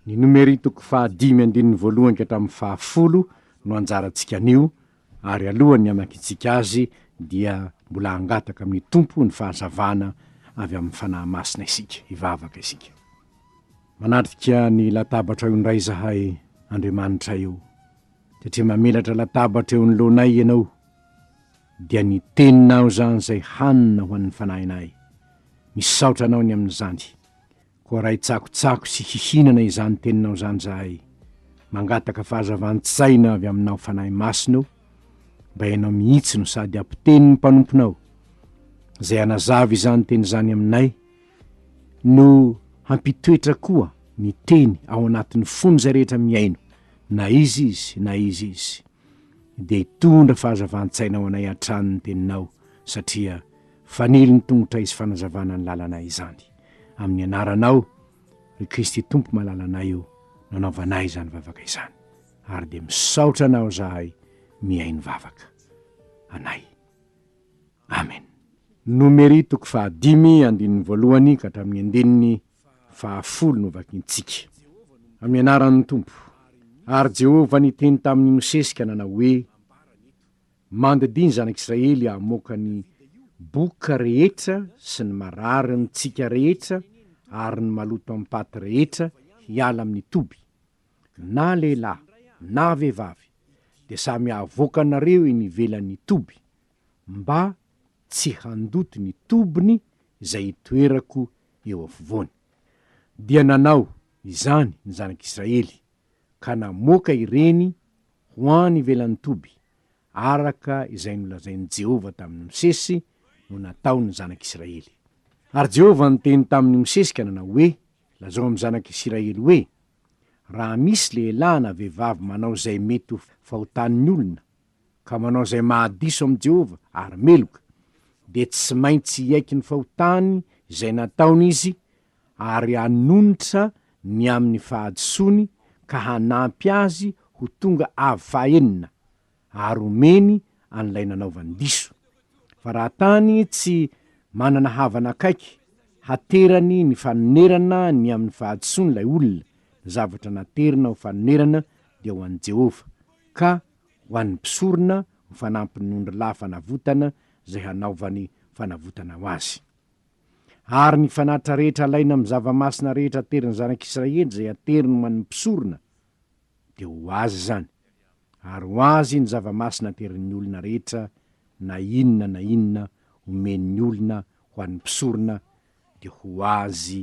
Ny nomerin toko faha dimy andininy voalohany ka hatramin'ny faha folo no anjarantsika anio, ary alohan'ny hamakintsika azy dia mbola hangataka amin'ny Tompo ny fahazavana avy amin'ny Fanahy Masina isika, hivavaka isika. Manatrika ny latabatrao indray izahay, Andriamanitray ô, satria mamelatra latabatra eo anoloanay Ianao, dia ny Teninao izany izay hanina ho an'ny fanahinay. Misaotra Anao ny amin'izany. Koa ray tsakotsako sy hihinana izany teninao izany izahay, mangataka fahazavan-tsaina avy aminao Fanahy Masina o, mba ianao mihitsy no sady ampiteny ny mpanomponao, izay hanazava izany teny izany aminay, no hampitoetra koa ny teny ao anatin'ny fon'izay rehetra mihaino, na iza izy na iza izy. Dia hitondra fahazavan-tsaina ho anay hatrany ny teninao, satria fanilo ny tongotray sy fanazavana ny lalanay izany. amin'ny anaranao, ry Kristy Tompo malalanay o, nanaovanay izany vavaka izany, ary dia misaotra anao zahay mihaino vavaka anay. Amen. Nomery toko fahadimy andininy voalohany ka hatramin'ny andininy fahafolo no vakintsika. Amin'ny anaran'ny Tompo. Ary Jehovah niteny tamin'i Mosesy ka nanao hoe, Mandidia ny zanak'Israely hamoaka ny boka rehetra sy ny marary mitsika rehetra ary ny maloto am-paty rehetra hiala amin'ny toby. Na lehilahy na vehivavy, dia samy havoaka anareo eny ivelan'ny toby, mba tsy handoto ny tobiny izay hitoerako eo afovoany. Dia nanao izany ny zanak'Israely, ka namoaka ireny, ho any ivelan'ny toby, araka izay nolazain'i Jehovah tamin'i Mosesy no nataon'ny zanak'Israely. Ary Jehovah niteny tamin'i Mosesy ka nanao hoe, Lazao amin'ny zanak'Israely hoe, Raha misy lehilahy na vehivavy manao izay mety ho fahotan'ny olona, ka manao izay mahadiso amin'i Jehovah ary meloka, dia tsy maintsy hiaiky ny fahotany izay nataony izy ary hanonitra ny amin'ny fahadisoany ka hanampy azy ho tonga avo fahaenina ary homeny an'ilay nanaovany diso. Fa raha tany tsy manana havana akaiky haterany ny fanonerana ny amin'ny fahadisoany ilay olona, ny zavatra naterina ho fanonerana dia ho an'i Jehovah, ka ho an'ny mpisorona ho fanampin'ondrilahy fanavotana izay hanaovany fanavotana ho azy. ary ny fanatitra rehetra alaina amin'ny zava-masina rehetra aterin'ny Zanak' Israely izay ateriny ho an'ny mpisorona, dia ho azy izany, ary ho azy ny zava-masina aterin'ny olona rehetra na inona na inona omen'ny olona ho an'ny mpisorona, dia ho azy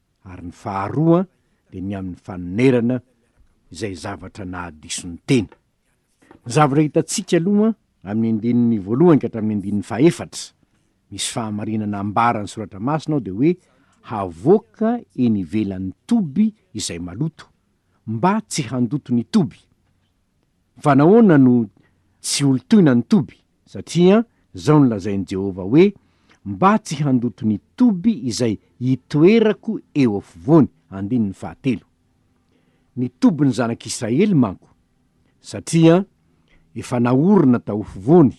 ary ny faharoa dia ny amin'ny fanonerana izay zavatra nahadiso ny tena. Ny zavatra hitantsika aloha amin'ny andininy voalohany ka hatramin'ny andininy fahefatra, misy fahamarinana ambaran'ny Soratra Masina ao dia hoe havoaka eny ivelan'ny toby izay maloto, mba tsy handoto ny toby. Fa nahoana no tsy holotoina ny toby? Satria izao no lazain'i Jehovah hoe, Mba tsy handoto ny toby izay itoerako eo afovoany. Andininy fahatelo. Ny tobin'ny zanak'Israely manko, satria efa naorina tao afovoany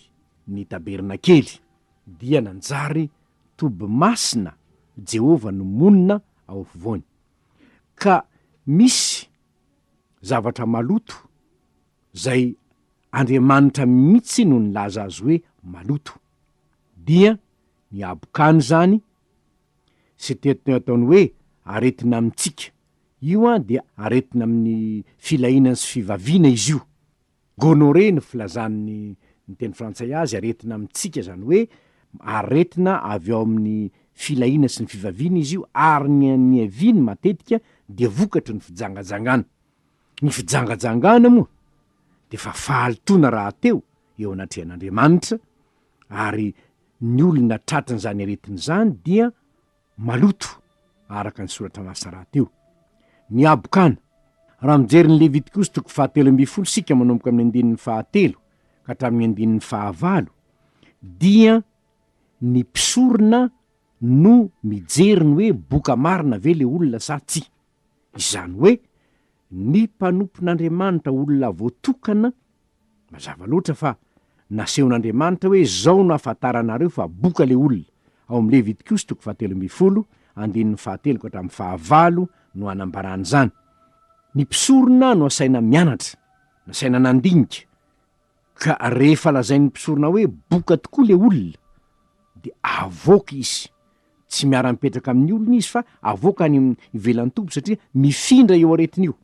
ny tabernakely, dia nanjary toby masina Jehovah no monina ao afovoany. Ka misy. zavatra maloto zay Andriamanitra mihitsy no nilaza azy hoe maloto. Dia ny habokany izany sy teto ataony hoe aretina amintsika, io dia aretina amin'ny filahiana sy fivaviana izy io. Gonorrhée no filazan'ny ny teny frantsay azy, aretina amintsika izany hoe aretina avy ao amin'ny filahiana sy ny fivaviana izy io ary ny an'ny aviany matetika dia vokatry ny fijangajangana. Ny fijangajangana moa dia efa fahalotoana rahateo eo anatrehan'Andriamanitra ary ny olona tratrin'izany aretina izany dia maloto, araka ny soratra Masoràt io. Ny habokana, Raha mijery ny Levitikosy toko fahatelo ambin'ny folo isika manomboka amin'ny andininy fahatelo ka hatramin'ny andininy fahavalo, dia ny mpisorona no mijery ny hoe boka marina ve le olona sa tsia. Izany hoe, ny mpanompon'Andriamanitra olona voatokana, mazava loatra fa nasehon'Andriamanitra hoe izao no hahafantaranareo fa boka ilay olona, ao amin'ny Levitikosy toko fahatelo ambin'ny folo, andininy fahatelo ka hatramin'ny fahavalo no anambarany izany. Ny mpisorona no asaina mianatra, nasaina nandinika, Ka rehefa lazain'ny mpisorona hoe boka tokoa le olona de avoaka izy, tsy miara mipetraka amin'ny olona izy fa avoaka any ivelan'ny toby satria mifindra io aretina io.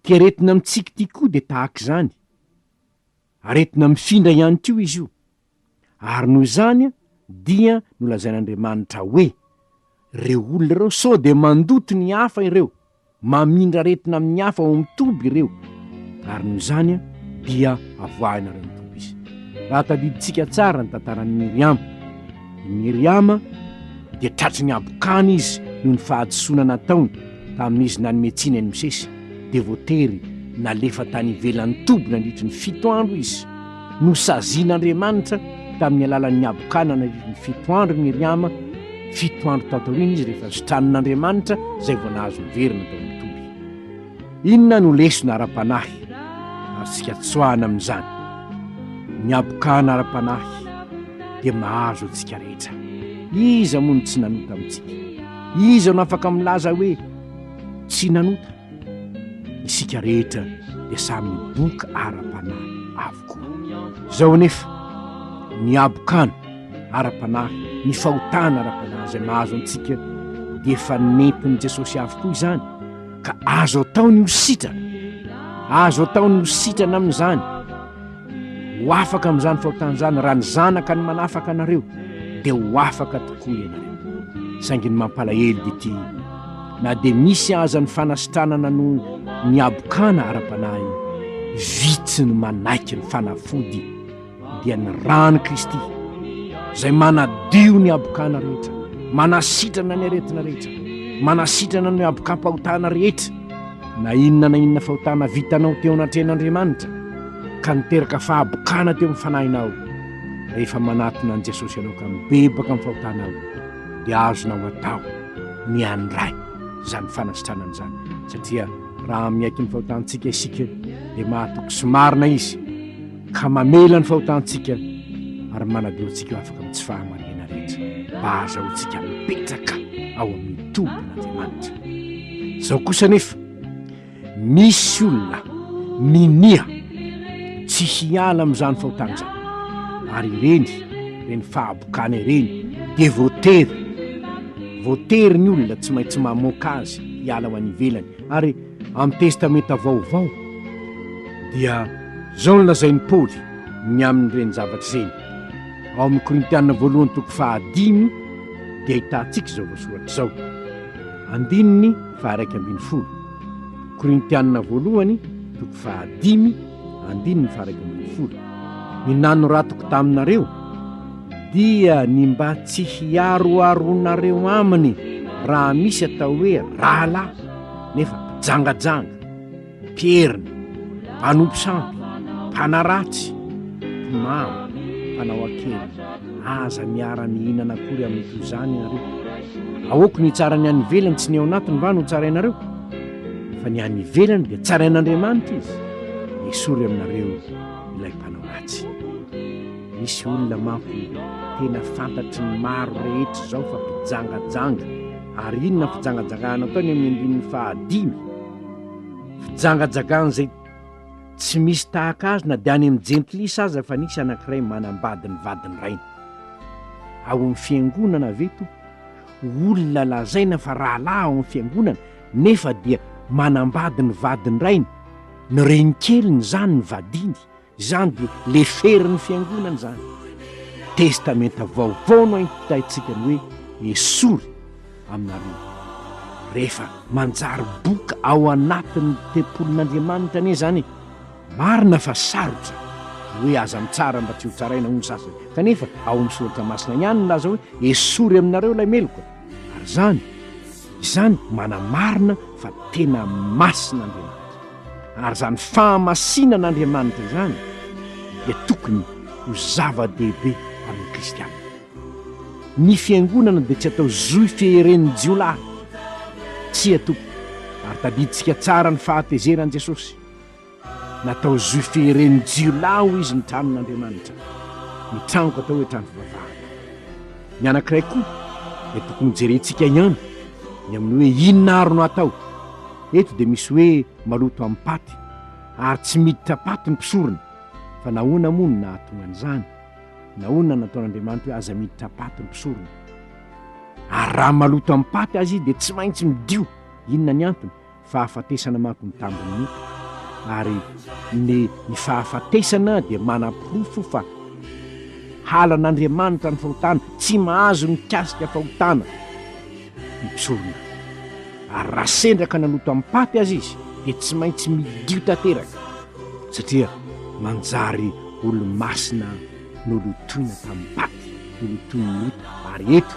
Ty aretina mitsiky ty koa de tahak'izany, aretina mifindra ihany koa izy io. Ary noho izany dia nolazain'Andriamanitra hoe, Ireo olona ireo sao dia mandoto ny hafa ireo, mamindra aretina amin'ny hafa ao amin'ny toby ireo, ary noho izany dia avoahinareo ny toby izy. Raha tadidintsika tsara ny tantaran'i Miriama, i Miriama dia tratry ny habokana izy noho ny fahadisoana nataony tamin'izy nanome tsiny an'i Mosesy, dia voatery nalefa tany ivelan'ny toby nandritry ny fito andro izy. Nosazian'Andriamanitra tamin'ny alalan'ny habokanana iron'ny fito andro i Miriama, fito andro tao taoriana izy rehefa zotranin'Andriamanitra izay vao nahazo niverina tao amin'ny toby. Inona no lesona ara-panahy azontsika tsoahana amin'izany? Ny habokana ara-panahy dia mahazo antsika rehetra. Iza moa no tsy nanota amintsika? Iza no afaka milaza hoe tsy nanota? Isika rehetra dia samy miboka ara-panahy avokoa. Izao anefa, ny habokana ara-panahy, ny fahotana ara-panahy izay mahazo antsika dia efa nentin'i Jesosy avokoa izany, ka azo atao ny ho sitrana. Azo atao ny ho sitrana amin'izany. Ho afaka amin'izany fahotana izany raha ny Zanaka no manafaka anareo, dia ho afaka tokoa ianareo. Saingy ny mampalahelo dia ity, na dia misy aza ny fanasitranana noho ny habokana ara-panahy, vitsy ny manaiky ny fanafody, dia ny ran'i Kristy, izay manadio ny habokana rehetra, manasitrana ny aretina rehetra, manasitrana ny habokam-pahotana rehetra, na inona na inona fahotana vitanao teo anatrehan'Andriamanitra. ka niteraka fahabokana teo amin'ny fanahinao, rehefa manatona an'i Jesosy ianao ka mibebaka amin'ny fahotanao, dia azonao atao ny handray izany fanasitranana izany, satria raha miaiky ny fahotantsika isika, dia mahatoky sy marina Izy, ka mamela ny fahotantsika ary manadio antsika ho afaka amin'ny tsy fahamariana rehetra, mba hahazahoantsika mipetraka ao amin'ny tobin'Andriamanitra. Izao kosa anefa, Misy olona minia tsy hiala amin'izany fahotana izany, ary ireny, ireny fahabokana ireny dia voatery, voatery ny olona tsy maintsy mamoaka azy hiala ho any ivelany, ary amin'ny Testamenta Vaovao dia izao no lazain'i Paoly ny amin'ireny zavatra ireny, ao amin'ny Korintiana Voalohany toko fahadimy dia ahitantsika izao voasoratra izao, andininy. faharaika ambin'ny folo. Korintianina voalohany, toko fahadimy, andininy faharaika ambin'ny folo. Ny nanoratoko taminareo dia ny mba tsy hiaroaroanareo aminy raha misy atao hoe rahalahy nefa mpijangajanga. Mpierina, mpanompo sampy, mpanaratsy, mpimamo, mpanao akeny, aza miara-mihinana akory amin'ny toy izany ianareo. Aoka ny hitsaran'ny any ivelany sy ny ao anatiny va no tsarainareo? Fa ny any ivelany dia tsarain'Andriamanitra izy, esory aminareo ilay mpanao ratsy. Misy olona manko tena fantatry ny maro rehetra izao fa mpijangajanga, ary inona fijangajangana ataony amin'ny andininy fahadimy? Fijangajagan'izay tsy misy tahaka azy na dia any amin'ny jentilisa aza fa nisy anankiray manambady ny vadin'ny rainy. Ao amin'ny fiangonana ve toa olona lazaina fa rahalahy ao amin'ny fiangonana nefa dia manambady ny vadin'ny rainy? Ny renikeliny izany nivadiany Izany dia leferin'ny Fiangonana izany. Testamenta Vaovao no aim-pitaintsika ny hoe esory aminareo. Rehefa manjary boka ao anatin'ny tempolin'Andriamanitra anie izany, marina fa sarotra ny hoe aza mitsara mba tsy ho tsaraina hoy ny sasany, kanefa ao amin'ny Soratra Masina ihany nilaza hoe esory aminareo ilay meloka, ary izany, Izany manamarina fa tena masina Andriamanitra. Ary izany fahamasinan' Andriamanitra izany dia tokony ho zava-dehibe amin'ny kristiana. Ny fiangonana dia tsy atao zohy fieren'ny jiolahy. Tsia tompoko, ary tadidintsika tsara ny fahatezeran'i Jesosy. Natao zo fieren'ny jiolahy hoy izy ny tranon'Andriamanitra. Ny tranoko atao hoe trano fivavahana. Ny anankiray koa dia tokony hojerentsika ihany ny amin'ny hoe inona àry no hatao. Eto dia misy hoe maloto amin'ny paty ary tsy miditra paty ny mpisorona. Fa nahoana moa no nahatonga an'izany? Nahoana no nataon'Andriamanitra hoe aza miditra paty ny mpisorona? Ary raha maloto amin'ny paty aza izy dia tsy maintsy midio. Inona ny antony? fahafatesana manko ny tambin'ny nofo, ary ny ny fahafatesana dia manaporofo fa halan'Andriamanitra ny fahotana, tsy mahazo mikasika fahotana ny mpisorona. Ary raha sendra ka nanota am-paty aza izy dia tsy maintsy midio tanteraka, satria manjary olo-masina nolotoina tamim-paty, nolotoin'ny ota, ary eto,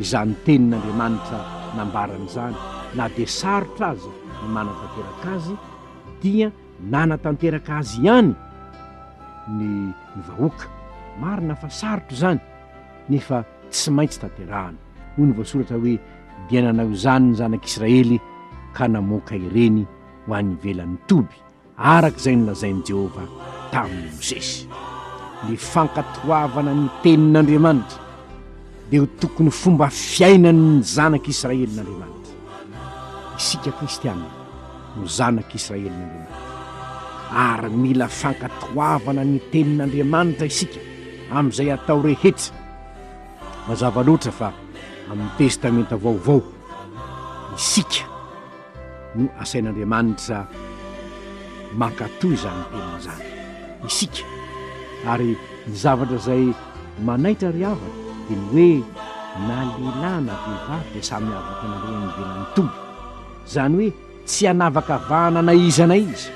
Izany tenin'Andriamanitra nambarany izany, na dia sarotra aza ny manatanteraka azy, dia nanatanteraka azy ihany ny ny vahoaka. Marina fa sarotra izany, nefa tsy maintsy tanterahana. Hoy ny voasoratra hoe, Dia nanao izany ny zanak'Israely ka namoaka ireny ho any ivelan'ny toby, araka izay nolazain'i Jehovah tamin'i Mosesy. Ny fankatoavana ny Tenin'Andriamanitra dia ho tokony fomba fiainan'ny zanak'Israelin'Andriamanitra. Isika Kristianina no zanak'Israelin'Andriamanitra, ary mila fankatoavana ny Tenin'Andriamanitra isika amin'izay atao rehetra. Mazava loatra fa amin'ny Testamenta Vaovao isika. no asain'Andriamanitra mankatò izany teniny izany, isika. Ary ny zavatra izay manaitra ry havana dia ny hoe na lehilahy na vehivavy dia samy havaka naleha nivelan'ny Tompo. Izany hoe tsy hanavakavahana na iza na iza,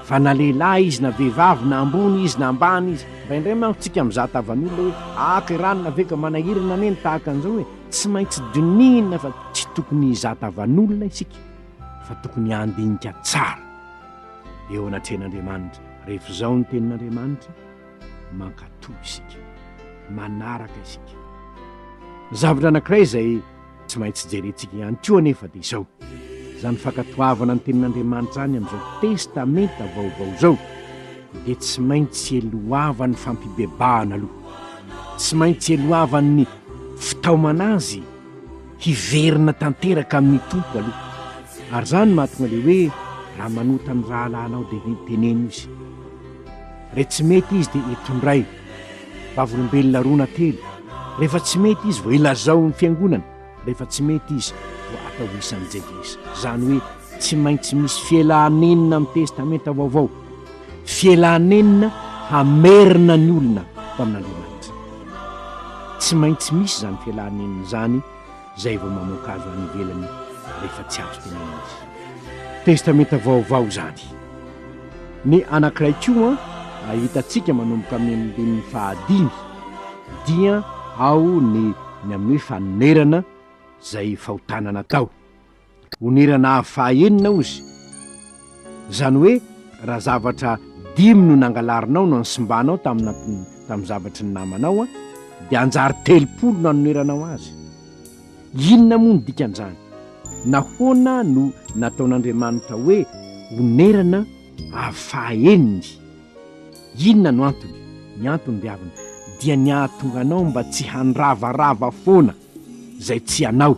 fa na lehilahy izy na vehivavy, na ambony izy na ambany izy. Indraindray manko tsika mizaha tavan'olona hoe, aka i Ranona ve ka manahirana anie ny tahaka an'izao e! Tsy maintsy dinihina fa tsy tokony hizata vanolona isika fa tokony handinika tsara eo anatrehan'Andriamanitra rehefa izao ny tenin'Andriamanitra, Mankatò isika, manaraka isika. Zavatra anankiray izay tsy maintsy jerentsika ihany koa anefa dia izao, izany fankatoavana ny tenin'Andriamanitra izany amin'izao Testamenta Vaovao izao, dia tsy maintsy elohavan'ny fampibebahana aloha, tsy maintsy elohavan'ny fitaomana azy hiverina tanteraka amin'ny Tompo aloha. Ary izany no mahatonga ilay hoe raha manota ny rahalahinao dia ve teneno izy. Re tsy mety izy dia etondray, vavolombelona roa na telo, rehefa tsy mety izy vao ilazao ny fiangonana. Rehefa tsy mety izy dia atao isan'ny jelisy. Izany hoe tsy maintsy misy fialanenina amin'ny Testamenta Vaovao, fialanenina hamerina ny olona tamin'Andriamanitra. Tsy maintsy misy izany fialanenina izany izay vao mamoaka azo any ivelany rehefa tsy azo tenenina izy. Testamenta Vaovao izany. Ny anankiray koa ahitantsika manomboka amin'ny andininy fahadimy. Dia ao ny ny amin'ny fanonerana izay fahotana natao. Onerana avo fahaenina ozy. Izany hoe raha zavatra dimy no nangalarinao no nsimbanao tamin'ny tamin'ny zavatry ny namanao an, dia hanjary telopolo no hanoneranao azy. Inona moa ny dikan'izany? Nahoana no nataon'Andriamanitra hoe onerana avo fahaeniny? Inona no antony? Ny antony ry havana dia ny hahatonga anao mba tsy handravarava foana izay tsy anao,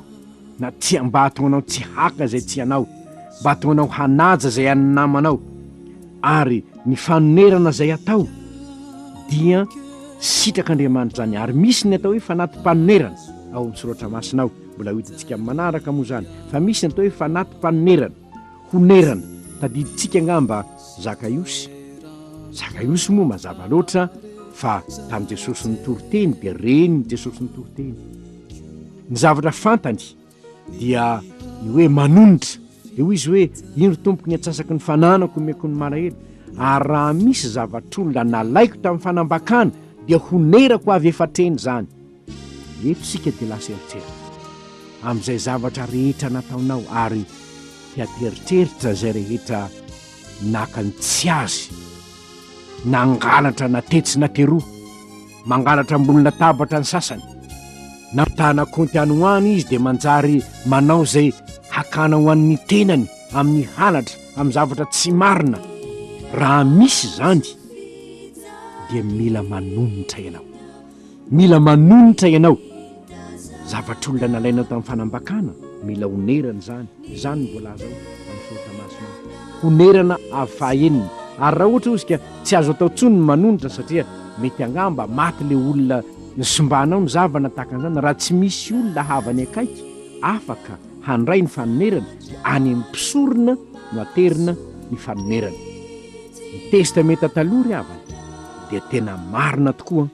na tsy mba hahatonga anao tsy haka izay tsy anao, mba hahatonga anao hanaja izay an'ny namanao, ary ny fanonerana izay atao dia sitrak'Andriamanitra izany, ary misy ny atao hoe fanati-panonerana ao amin'ny soratra masina ao, mbola ho hitantsika amin'ny manaraka moa izany, fa misy ny atao hoe fanati-panonerana. Honerana, tadidintsika angamba Zakaiosy. Zakaiosy moa mazava loatra fa tamin'i Jesosy nitory teny dia renin'i Jesosy nitory teny. Ny zavatra fantany dia ny hoe manonitra. Dia hoy izy hoe, ino ry Tompoko ny atsasaky ny fananako omeko ny malahelo? Ary raha misy zavatr'olona nalaiko tamin'ny fanambakana dia honerako avy efa-treny izany. Eto isika dia lasa eritreritra amin'izay zavatra rehetra nataonao ary te hampieritreritra izay rehetra naka ny tsy azy, nangalatra na tetsy na teroa, mangalatra ambony latabatra ny sasany, nampitahana kaonty any ho any izy dia manjary manao izay hakana ho an'ny tenany amin'ny halatra amin'ny zavatra tsy marina, raha misy izany dia mila manonitra ianao. Mila manonitra ianao. Zavatr'olona nalainao tamin'ny fanambakana, mila onerana izany. Izany no voalaza ao amin'ny Soratra Masina ao. Honerana avy fahaenina. Ary raha ohatra, hozy ka, tsy azo atao intsony ny manonitra, satria mety angamba maty ilay olona nisimbanao, ny zavana tahaka an'izany, raha tsy misy olona havany akaiky afaka handray ny fanonerana, dia any amin'ny mpisorona no aterina ny fanonerana. Ny Testamenta Taloha ry havana dia tena marina tokoa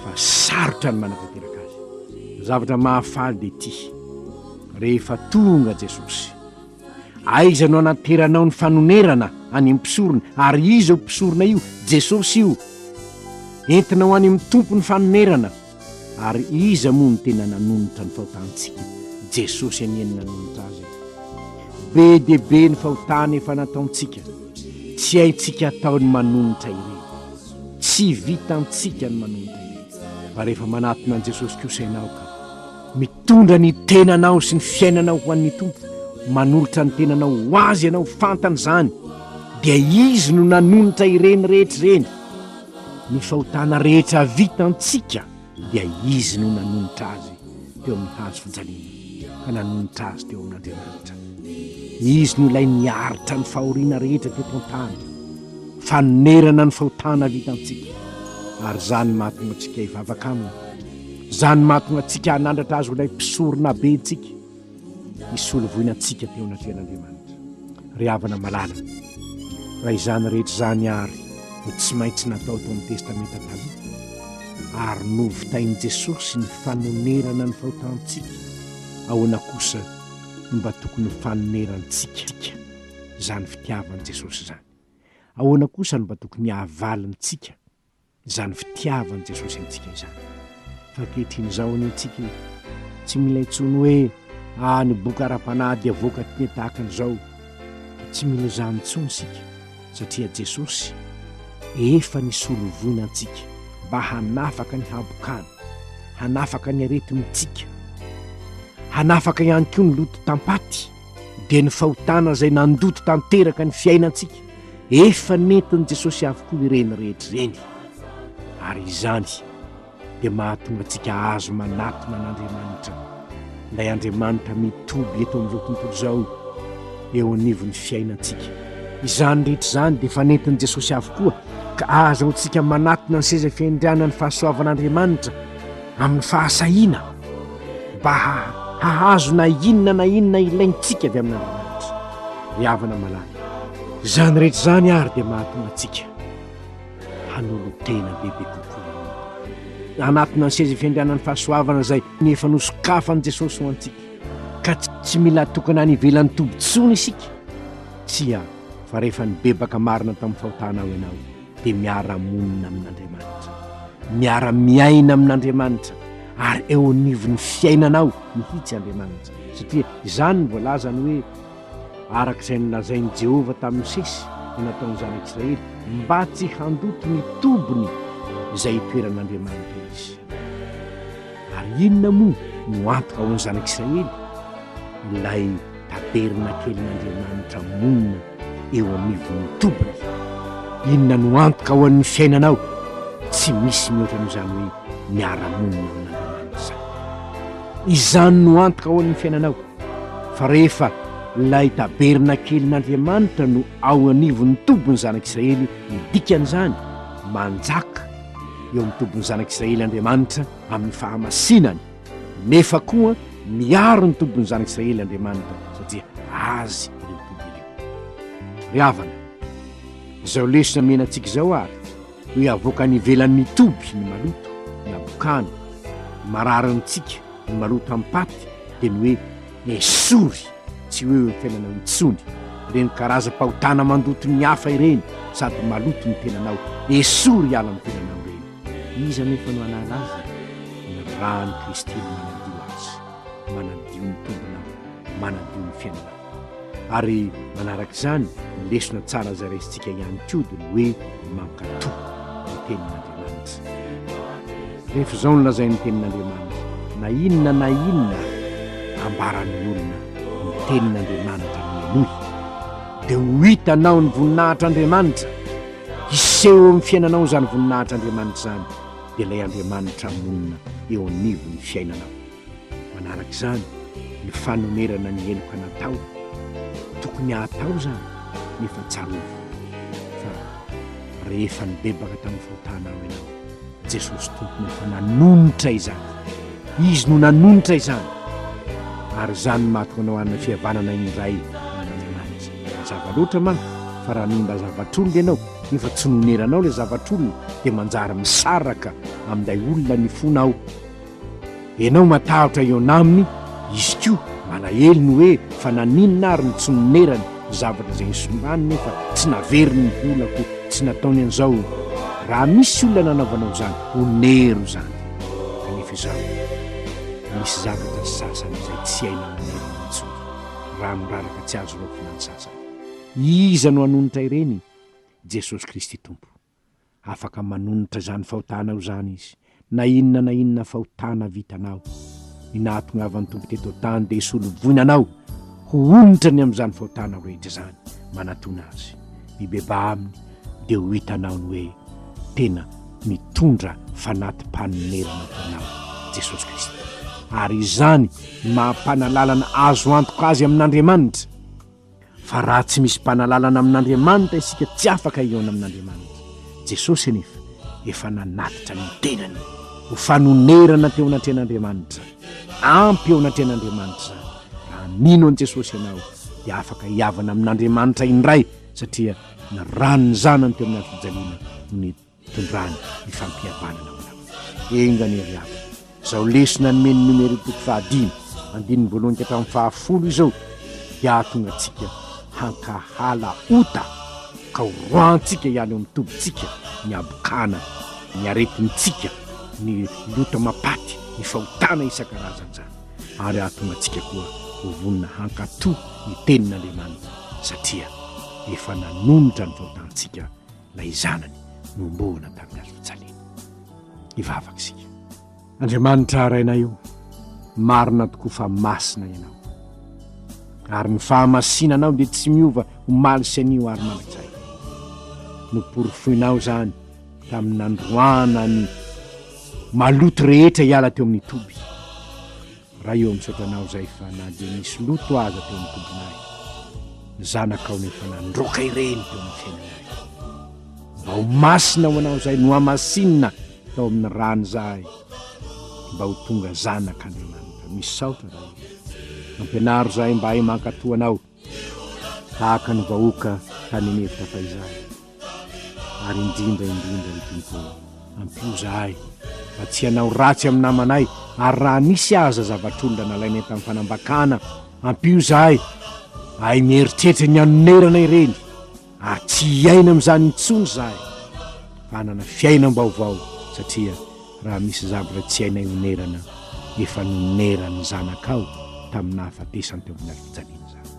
fa sarotra ny manatanteraka azy. Ny zavatra mahafaly dia ity, rehefa tonga Jesosy, aiza no hanateranao ny fanonerana any amin'ny mpisorona, ary iza io mpisorona io? Jesosy io. Entinao any amin'ny Tompo ny fanonerana. Ary iza moa no tena nanonitra ny fahotantsika? Jesosy anie no nanonitra azy e! Be dia be ny fahotana efa nataontsika, tsy haintsika atao ny manonitra ireny. Tsy vitantsika ny manonitra ireny, fa rehefa manatona an'i Jesosy kosa ianao ka, mitondra ny tenanao sy ny fiainanao ho an'ny Tompo, manolotra ny tenanao ho Azy ianao, fantany izany, dia Izy no nanonitra ireny rehetra ireny. Ny fahotana rehetra vita antsika dia Izy no nanonitra azy teo amin'ny hazo fijaliana ka nanonitra azy teo amin'Andriamanitra. Izy no ilay niaritra ny fahoriana rehetra teto an-tany, fanonerana ny fahotana vita antsika, ary izany no mahatonga antsika hivavaka Aminy, izany mahatonga antsika hanandratra Azy ho ilay Mpisoronabentsika. hisolo voina antsika teo anatrehan'Andriamanitra. Ry havana malala, raha izany rehetra izany àry no tsy maintsy natao tao amin'ny Testamenta Taloha, ary novitain'i Jesosy ny fanonerana ny fahotantsika, ahoana kosa no mba tokony ho fanonerantsika izany fitiavan'i Jesosy izany? Ahoana kosa no mba tokony hahavalintsika Izany fitiavan'i Jesosy antsika izany. Fa ankehitriny izao anie antsika e, tsy mila intsony hoe ah ny boky ara-panahy dia vokatry ny tahaka an'izao. Tsy mila izany intsony isika satria Jesosy efa nisolo voina antsika mba hanafaka ny habokana, hanafaka ny aretintsika, hanafaka ihany koa ny loto tam-paty. dia ny fahotana izay nandoto tanteraka ny fiainantsika efa nentin'i Jesosy avokoa ireny rehetra ireny ary izany dia mahatonga antsika azo manatona an'Andriamanitra ilay Andriamanitra mitoby eto amin'izao tontolo izao eo anivon'ny fiainantsika izany rehetra izany dia efa nentin'i Jesosy avokoa ka azo antsika manatona ny seza fiandrianan'ny fahasoavan'Andriamanitra amin'ny fahasahiana mba hahazo na inona na inona ilaintsika avy amin'Andriamanitra. Ry havana malala, izany rehetra izany àry dia mahatonga antsika hanolo-tena bebe kokoa hanatona ny seza fiandrianan'ny fahasoavana izay efa nosokafan'i Jesosy ho antsika, ka tsy mila atokana any ivelan'ny toby intsony isika. Tsia, fa rehefa nibebaka marina tamin'ny fahotana aho ianao, dia miara-monina amin'Andriamanitra, miara-miaina amin'Andriamanitra, ary eo anivon'ny fiainanao mihitsy Andriamanitra, satria izany no voalazany hoe, araka izay nolazain'i Jehovah tamin'i Mosesy no nataon'ny zanak'i Israely, mba tsy handoto ny tobiny izay itoeran'Andriamanitra izy. Ary inona moa no antoka ho an'ny zanak'i Israely? Ilay Tabernakelin'Andriamanitra monina eo anivon'ny toby izany. Inona no antoka ho an'ny fiainanao? Tsy misy mihoatra an'izany hoe miara-monina amin'Andriamanitra izany. Izany no antoka ho an'ny fiainanao. Fa rehefa ilay tabernakelin'Andriamanitra no ao anivon'ny tobin'ny zanak'Israely, ny dikan'izany, manjaka eo amin'ny tobin'ny zanak'Israely Andriamanitra amin'ny fahamasinany. Nefa koa miaro ny tobin'ny zanak'Israely Andriamanitra satria Azy ireo toby ireo. Ry havana, izao lesona omena antsika izao àry no hiavoaka any ivelan'ny toby ny maloto, ny habokana, ny mararintsika, ny maloto am-paty, dia ny hoe esory tsy ho eo eo fiainanao intsony ireny karazam-pahotana mandoto ny hafa ireny sady maloto ny tenanao, esory hiala amin'ny tenanao ireny. Iza anefa no hanala azy? Ny ran'i Kristy no manadio azy, manadio ny tombonao, manadio ny fiainanao. Ary manaraka izany, ny lesona tsara izay raisintsika ihany koa dia ny hoe mankatò ny Tenin'Andriamanitra. Rehefa izao no lazain'ny Tenin'Andriamanitra, na inona na inona ambaran'ny olona, ny Tenin'Andriamanitra no henoy. Dia ho hitanao ny voninahitr'Andriamanitra. Hiseho eo amin'ny fiainanao izany voninahitr'Andriamanitra izany, dia ilay Andriamanitra monina eo anivon'ny fiainanao. Manaraka izany ny fanonerana ny heloka natao. Tokony hatao izany, nefa tsarovy fa rehefa nibebaka tamin'ny fahotanao ianao, Jesosy Tompony efa nanonitra izany. Izy no nanonitra izany. Ary izany no mahatonga anao hanana fihavanana indray amin'Andriamanitra. Mazava loatra manko fa raha nonina zavatr'olona ianao nefa tsy noneranao ilay zavatr'olona dia manjary misaraka amin'ilay olona ny fonao. Enao matahotra hihaona aminy, izy koa malahelo ny hoe fa naninona ary no tsy nonerany ny zavatra izay nisonganiny nefa tsy naveriny ny volako tsy nataony an'izao raha misy olona nanaovanao izany onero izany kanefa izaho misy zavatra sasany izay tsy hay manerana intsony raha miraraka tsy azo raofina ny sasany iza no hanonitra ireny Jesosy Kristy Tompo Afaka manonitra izany fahotanao izany Izy, na inona na inona fahotana vitanao. Ny nahatongavan'ny Tompo teto an-tany dia hisolovoina anao ho onitra ny amin'izany fahotanao rehetra izany. Manatona Azy. Mibebaha Aminy, dia ho hitanao ny hoe tena mitondra fanati-panonerana ho anao Jesosy Kristy. Ary izany no maha-mpanalalana azo antoka Azy amin'Andriamanitra. Fa raha tsy misy mpanalalana amin'Andriamanitra isika tsy afaka hihaona amin'Andriamanitra. Jesosy anefa efa nanatitra ny tenany ho fanonerana teo anatrehan'Andriamanitra. Ampy eo anatrehan'Andriamanitra izany. Raha mino an'i Jesosy ianao dia afaka hihavana amin'Andriamanitra indray satria ny ran'ny zanany teo amin'ny hazofijaliana no Tondrany ny fampihavanana ao anao. Enga anie ry havana, izao lesona nomen'ny Numéro toko fahadimy, andininy voalohany ka hatramin'ny fahafolo izao dia hahatonga antsika hankahala ota ka ho roahantsika ihany eo amin'ny tobintsika ny habokana, ny aretintsika, ny loto ama-paty, ny fahotana isan-karazany izany ary hahatonga antsika koa ho vonona hankatò ny tenin'Andriamanitra satria efa nanonitra ny fahotantsika ilay zanany nohomboana tamin'ny hazo fijaliana. Hivavaka isika. Andriamanitra Rainay o, marina tokoa fa masina Ianao. Ary ny fahamasinanao dia tsy miova omaly sy anio ary mandrakizay. Noporofoinao izany tamin'ny nandroana ny maloto rehetra hiala teo amin'ny toby. Raha eo am'satanao zay fa na dia nisy loto aza teo am tobinay, ny zanakao nefa nandroaka ireny teo amin'ny fiainanay. Mba ho masina ho anao zay nohamasinina tao amin'ny rany zahay mba ho tonga zanak'Andriamanitra. Misaotra Ray. Ampianaro zahay mba hahay mankatoa Anao. tahaka ny vahoaka tany an'efitra fahizany, ary indrindra indrindra ny Tompo ô. Ampio izahay mba tsy hanao ratsy amin'ny namanay, ary raha nisy aza zavatr'olona nalainay tamin'ny fanambakana, ampio izahay mba hahay mieritreritra ny hanonerana ireny. ary tsy hiaina amin'izany intsony izahay fa hanana fiainam-baovao satria raha misy zavatra tsy hainay honerana efa noneran'ny zanakao tamin'ny nahafatesany teo amin'ny hazofijaliana izany.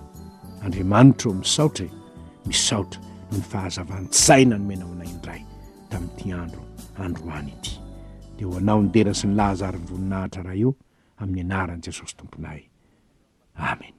Andriamanitra ô misaotra e, misaotra noho ny fahazavan-tsaina nomenao anay indray tamin'ity andro androany ity. Dia ho anao ny dera sy ny laza ary ny voninahitra Ray ô, amin'ny anaran'i Jesosy Tomponay. Amena.